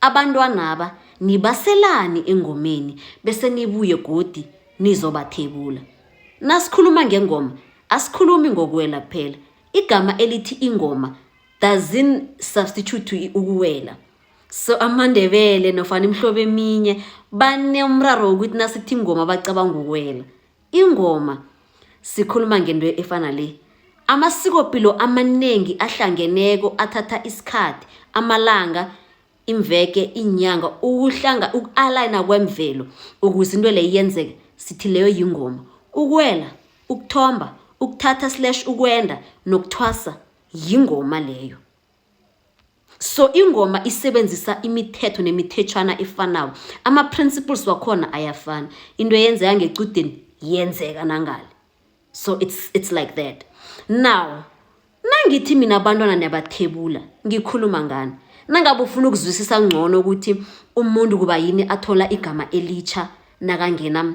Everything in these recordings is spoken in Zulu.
Abantwanaba nibaselani engomeni bese nibuye godi nizobathebula. Nasikhuluma ngengoma asikhulumi ngokuwela kuphela. Igama elithi ingoma doesn't substitute to ukuwela. So amaNdebele nofana imihlobo eminye banomraro wokuthi nasithi ingoma bacabanga ukuwela. Ingoma sikhuluma ngento efana le. Amasikopilo amanengi ahlangeneko athatha isikhathi, amalanga, imveke, iinyanga ukuhlanga uku-alayina kwemvelo ukuze into leyo yenzeke sithi leyo yingoma. Ukuwela, ukuthomba, ukuthatha slash ukwenda nokuthwasa yingoma leyo. so ingoma isebenzisa imithetho nemithetshwana efanako ama-principles wakhona ayafana into eyenzeka ngecudeni yenzeka nangale so it's, it's like that now nangithi mina abantwana niyabathebula ngikhuluma ngani nangabe ufuna ukuzwisisa ngcono ukuthi umuntu kuba yini athola igama elitsha nakangena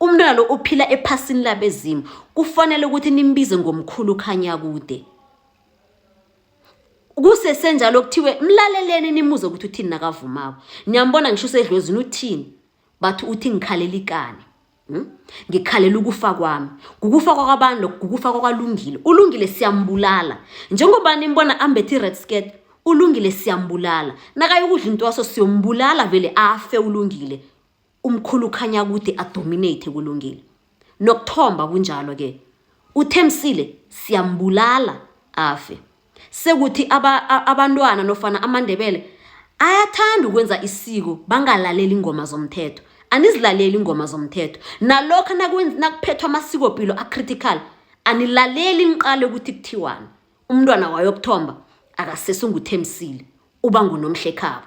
Umntwana lo uphila ephasini labezimu. Kufanele ukuthi nimbize ngomkhulu Khanyakude. Kusesenjalo kuthiwe mlaleleni nimuze ukuthi uthini nakavumako. Niyambona ngisho usedlozini uthini? Bathi uthi ngikhalela ikani. Hmm? ngikhalela ukufa kwami kukufa kwakwabantu lokho kukufa kwakwalungile ulungile siyambulala njengoba nimbona ambethe i-red skirt ulungile siyambulala nakayokudla into waso siyombulala vele afe ulungile Umkhulu ukhanya kude adominate kulungile. Nokuthomba kunjalo ke. Uthemsile siyambulala afe. Sekuthi aba, abantwana nofana amandebele ayathanda ukwenza isiko bangalaleli ingoma zomthetho. Anizilaleli ingoma zomthetho. Nalokho nakuphethwa amasiko pilo a critical anilaleli niqale ukuthi kuthiwani. Umntwana wayokuthomba akasese unguthemsile uba ngunomhlekhabo.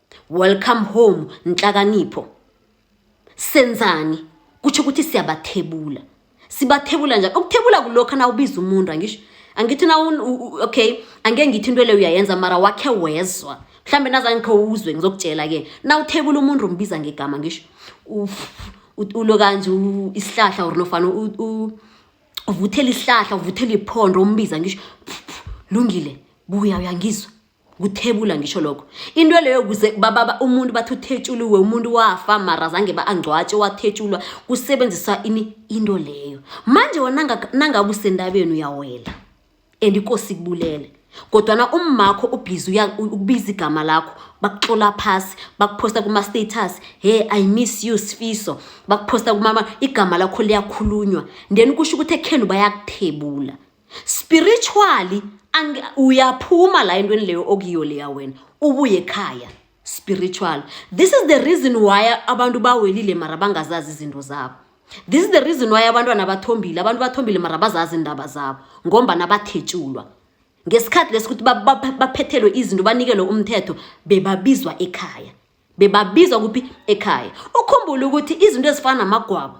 Welcome home Nhlakanipho. Senzani? Kutsho ukuthi siyabathebula. Sibathebula njani? Ukuthebula kulokho na ubiza umuntu angisho. Angithi na okay, angeke ngithi into le uyayenza mara wakhe wezwa. Mhlambe nazangikho uzwe ngizokutshela ke. Na uthebula umuntu umbiza ngegama ngisho. Ulo kanje isihlahla or nofana u uvuthela isihlahla uvuthela iphondo umbiza ngisho. Lungile, buya uyangizwa. kuthebula ngisho lokho into leyo kuze bababa umuntu bathi uthetshuliwe umuntu wafa mara zange ba-angcwatshe wathetshulwa kusebenziswa ini into leyo manje wona nangabe usendabeni uyawela and inkosi ikubulele kodwana ummakho ubhizi ukubiza igama lakho bakuxola phasi bakuphosta kuma-status he i miss you sifiso bakuphosta kumama igama lakho liyakhulunywa then kusho ukuthi ekhenu bayakuthebula spiritually uyaphuma la entweni leyo okuyiyo leya wena ubuye ekhaya spiritual this is the reason why abantu bawelile mara bangazazi izinto zabo this is the reason why abantwana bathombile abantu bathombile mara bazazi indaba zabo ngombana bathetshulwa ngesikhathi lesi ukuthi baphethelwe izinto banikelwe umthetho bebabizwa ekhaya bebabizwa kuphi ekhaya ukhumbule ukuthi izinto ezifana namagwabo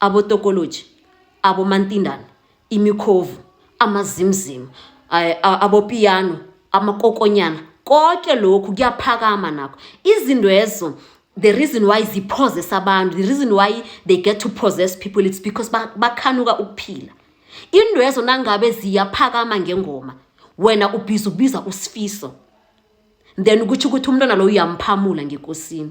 abotokoloji abomantindana imikhovu amazimzimu abopiyano amakokonyana konke lokhu kuyaphakama nakho izinto ezo the reason why ziphozesa abantu the reason why they get to possess people it's because bakhanuka ukuphila into ezo nangabe ziyaphakama ngengoma wena ubhiza ubiza usifiso then ukuthi ukuthi umntwana lo uyamphamula ngekosini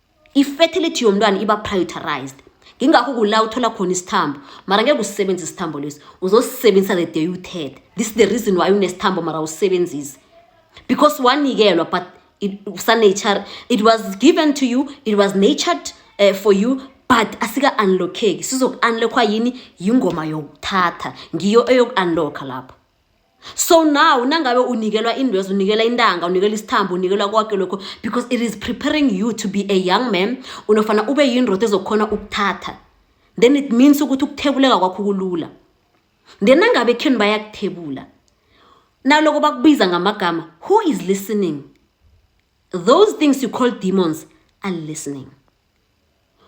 i-fertility yomntwana iba prioritized ngingakho kula uthola khona isithambo mara ngeke usisebenzise isithambo lesi uzosisebenzisa the day uthethe this is the reason why unesithambo mara usisebenzise because wanikelwa but sa-nature it was given to you it was natured uh, for you but asika-unlockeki sizoku-unlockwa yini yingoma yokuthatha ngiyo eyoku-unlocka lapho so now nangabe unikelwa indwezo unikela intanga unikela isithambo unikelwa konke lokho because it is preparing you to be a young man unofana ube yindoda ezokhona ukuthatha then it means ukuthi ukuthebuleka kwakho kulula then nangabe ekheni bayakuthebula naloko bakubiza ngamagama who is listening those things you call demons are listening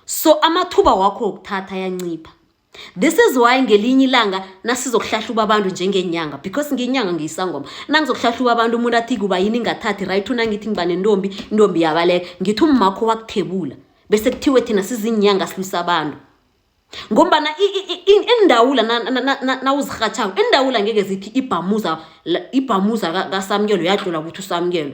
so amathuba wakho wokuthatha ayancipha This is why ngelinye ilanga nasizokuhlahluba abantu njengenyanga because ngenyanga ngiyisangoma nangizokuhlahluba abantu umuntu athi kuba yini ingathathi right unangithi ngiba nentombi intombi yabaleka ngithi ummakho wakuthebula bese kuthiwe thina sizinyanga silwisa abantu ngombana indawula nawuzirhatshako indawula ngeke zithi ibhamuza ibhamuza kasamukelo yadlula ukuthi usamukelo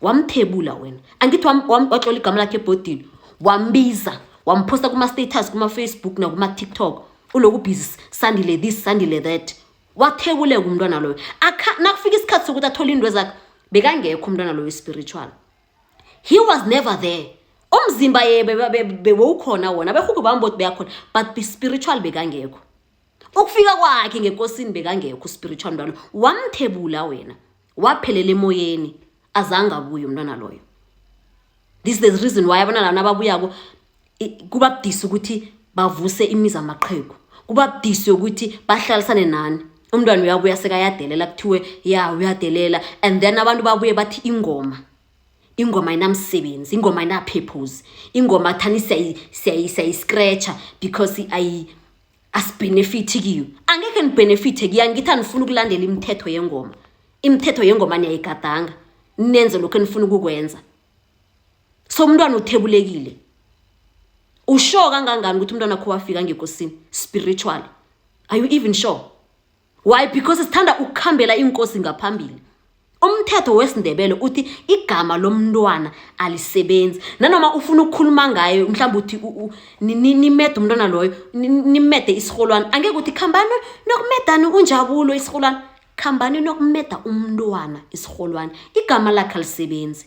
wamphebula wena angithi watlola igama lakhe ebhodini wambiza wamphosta kuma-status kuma-facebook nakuma-tiktok uloku busy sandile this sandile that wathebuleka umntwana loyo nakufika isikhathi sokuthi athole into ezakhe bekangekho umntwana loyo spiritual he was never there umzimba ye bewukhona wona abehuku bami boti beyakhona but spiritual bekangekho ukufika kwakhe ngekosini bekangekho spiritual mntwana wamthebula wena waphelela emoyeni azange abuye umntwana loyo this is the reason why abana lana ababuyako kuba budisi ukuthi bavuse imizi amaqhegu kuba budisi ukuthi bahlalisane nani umntwana uyabuya sekayadelela kuthiwe ya uyadelela and then abantu babuye bathi ingoma ingoma inamsebenzi ingoma inapurpose ingoma thani siyayiscratcha because asibhenefithi kiyo angekhe nibhenefithe kiyo angithi anifuna ukulandela imithetho yengoma imithetho yengoma niyayigadanga nenze lokhu enifuna ukukwenza so umntwana uthebulekile usure kangangani ukuthi umntwana kho wafika ngekosini spiritually are you even sure why because sithanda ukukhambela inkosi ngaphambili umthetho wesindebele uthi igama lomntwana alisebenzi nanoma ufuna ukukhuluma ngaye mhlawumbe uthi nimede umntwana loyo nimede isiholwane angeke ukuthi khambani nokumedani unjabulo isiholwane khambani nokumeda umntwana isiholwane igama lakhe alisebenzi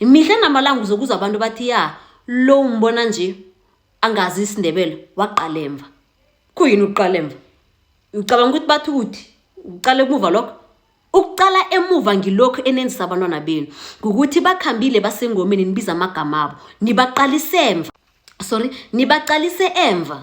mihla namalanga uzokuza abantu bathi ya lo umbona nje angazi isindebele waqalemva kuyini ukuqalemva ucabanga ukuthi bathi ukuthi uqala emuva lokho ukuqala emuva ngilokhu enenzisa abantwana benu ngukuthi bakhambile basengomeni nibiza amagama abo nibaqalise emva sorry nibaqalise emva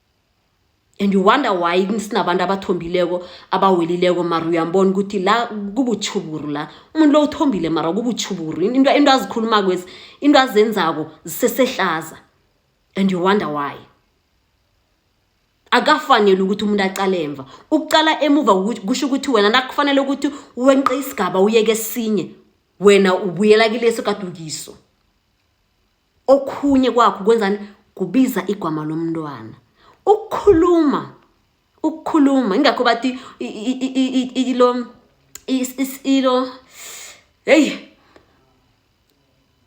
and you wonder why sinabantu abathombileko abawelileko mara uyambona ukuthi la kubutjhuburu la umuntu lo uthombile mara kubutjhuburu into azikhulumako ezi into azenzako zisesehlaza and you wonder why akafanele ukuthi umuntu aqale emva ukuqala emuva kusho ukuthi wena nakufanele ukuthi wenqe isigaba uyeke esinye wena ubuyela kileso kadukiso okhunye kwakho kwenzani kubiza igwama lomntwana ukukhuluma ukukhuluma ingakho bathi ilo ilo hey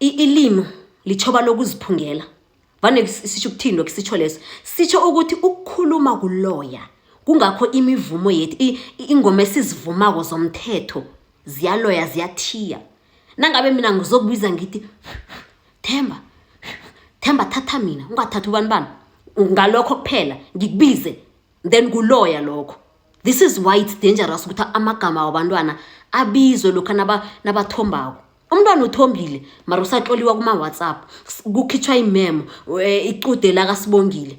ilimo lichoba lokuziphungela vane sisho ukuthini lokho sisho leso sisho ukuthi ukukhuluma kuloya kungakho imivumo yethu ingoma esizivumako zomthetho ziyaloya ziyathiya nangabe mina ngizokubiza ngithi themba themba thatha mina ungathathi ubani bani ngalokho kuphela ngikubize then kuloya lokho this is why it's dangerous ukuthi amagama wabantwana abizwe lokhu nabathombako umntwana uthombile mara usatloliwa kuma-whatsapp kukhitshwa imemo eh, icude lakasibongile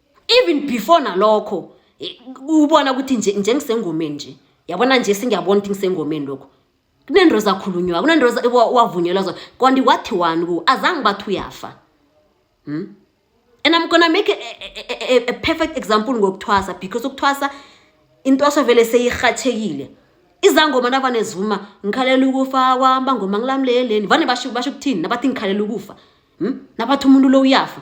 even before nalokho eh, ubona ukuthi nje njengisengomeni nje yabona nje singiyabona ukuthi ngisengomeni lokho kunento ezakhulunywa kunento wavunyelwa zona kanti wathi wani ku azange bathi uyafa hmm? and i'm gonna make a, a, a, a perfect example ngokuthwasa because ukuthwasa intwaso vele seyirhathekile izangoma nabanezuma ngikhalela ukufa kwamba ngoma ngilamleleni vane basho basho ukuthini nabathi ngikhalela ukufa hmm? nabathi umuntu lo uyafa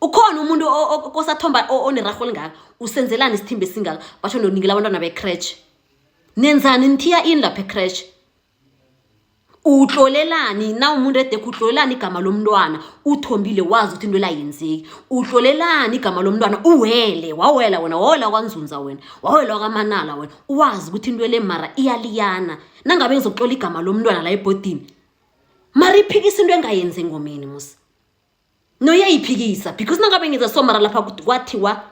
ukhona umuntu kosathomba onerarho olingaka usenzelani isithimba esingaka basho nonikela abantwana becratch nenzani nithiya ini lapha ecratch utlolelani na umuntu edekho utlolelani igama lomntwana uthombile wazi ukuthi into elayenzeki utlolelani igama lomntwana uwele wawela wena wawela kwanzunza wena wawela wakamanala wena wazi ukuthi into ele mara iyaliyana nangabe ngizokutlola igama lomntwana la ebhodini mara iphikisa into engayenzi engomeni musa no yayiphikisa because nangabe ngiza somara lapha kwathiwa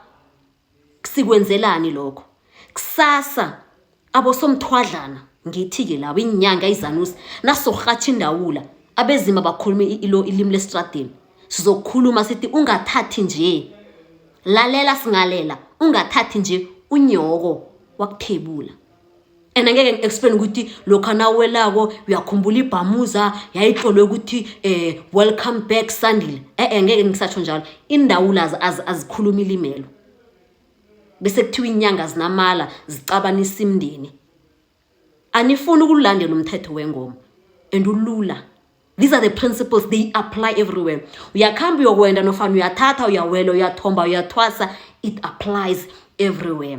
sikwenzelani lokho kusasa abosomthwadlana ngithi-ke labo inyanga izanusi nasorhatha indawula abezima bakhulume ilo ilimi lesitradini sizokhuluma sithi ungathathi nje lalela singalela ungathathi nje unyoko wakuthebula and angeke ngi-explain ukuthi lokhu nawelako uyakhumbula ibhamuza yayihlolwe ukuthi um welcome back sandile e-e ngeke ngisatsho njalo indawula azikhuluma ilimelo bese kuthiwa inyanga zinamala zicabanisa imndeni anifuni ukulandela umthetho wengoma and ulula these are the principles they apply everywhere uyakuhamba uyokwenda nofana uyathatha uyawela uyathomba uyathwasa it applies everywhere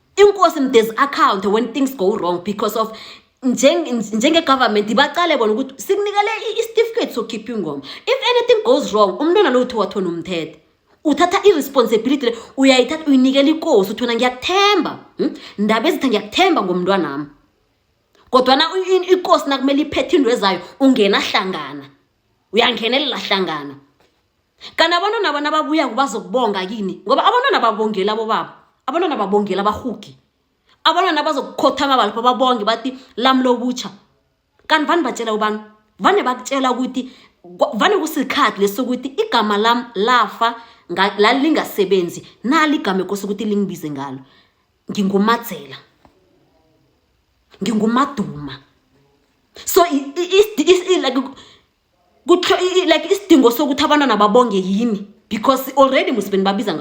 inkosi mdezi account when things go wrong because of njengegovernment nje bacale bona ukuthi sikunikele isitifiketi sokhipha ingoma if anything goes wrong umntwana lo uthi wathona umthethe uthatha i-responsibility le uyayithatha uyinikela ikosi uthona ngiyakuthemba hmm? ndaba ezitha ngiyakuthemba ngomntwanami kodwana ikosi nakumele iphethe into ezayo ungena hlangana uyangenelela hlangana kanti abantwana bona babuya kubazokubonga kini ngoba abantwana babongeli abobaba abantwana babongeli abahugi abantwana bazokukhothama balapho babonge bathi lami lobutsha kanti vane batshela ubani vane bakutshela ukuthi vane kusikhathi lesi sokuthi igama lam lafa lalingasebenzi nali igama ekose ukuthi lingibize ngalo ngingumadzela ngingumaduma so like isidingo sokuthi abantwana babonge yini because already musibeni babiza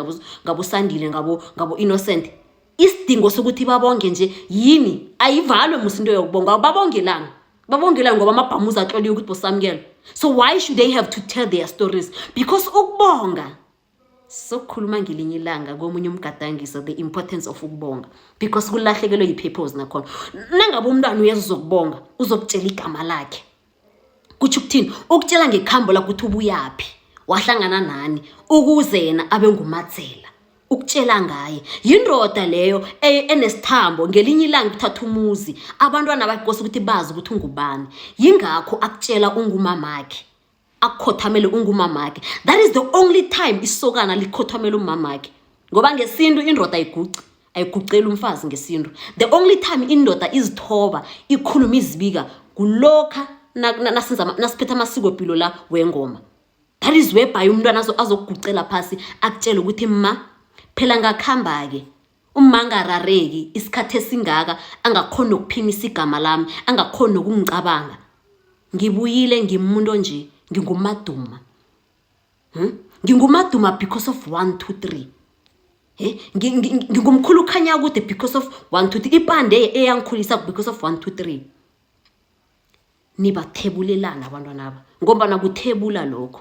ngabosandile ngabo-innocent isidingo sokuthi babonge nje yini ayivalwe musi into yokubonga babongelani babongelani ngoba amabhamuza atloliwe ukuthi bosamukelo so why should they have to tell their stories because ukubonga sokukhuluma ngelinye ilanga komunye umgadangiso the importance of ukubonga because kulahlekelwe yi-purpose nakhona nangabe umntwana uyeza uzokubonga uzokutshela igama lakhe kutsho ukuthini ukutshela ngekhambo lakho ukuthi ubuyaphi wahlangana nani ukuze yena abe ngumathela ukutshela ngaye yindoda leyo e, enesithambo ngelinye ilanga kuthatha umuzi abantwana bakose ukuthi bazi ukuthi ungubani yingakho akutshela ungumamakhe akukhothamele ungumamakhe that is the only time isokana likhothamele umamakhe ngoba ngesintu indoda ayiguci ayiguceli umfazi ngesintu the only time indoda izithoba ikhuluma izibika kulokha nasiphetha amasiko pilo la wengoma that is webhaye umntwana azokugucela phasi akutshele ukuthi ma phela ngakuhamba-ke Uma angarareki isikhathi esingaka angakhona ukuphimisa igama lami, angakhona nokungicabanga. Ngibuyile ngimuntu onje, nginguMaduma. Hmm? NginguMaduma because of one, two, three. Hey, eh? ngingumkhulu ukhanya kude because of one, two, three. Ipande eyangikhulisa because of one, two, three. Nibathebulelana abantwana aba ngombana kuthebula lokho.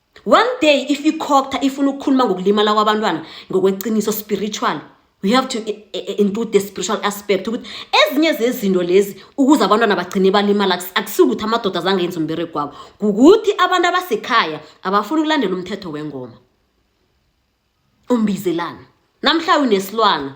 One day if ikhokta ifuna ukukhuluma ngokulimala kwabantwana ngokweqiniso spiritual we have to eh, eh, eh, include the spiritual aspect ukuthi ezinye zezinto lezi ukuze abantwana bagcine balimala akusikuthi amadoda azange yenza umberego wabo kukuthi abantu abasekhaya abafuni ukulandela umthetho wengoma umbizelana namhla unesilwana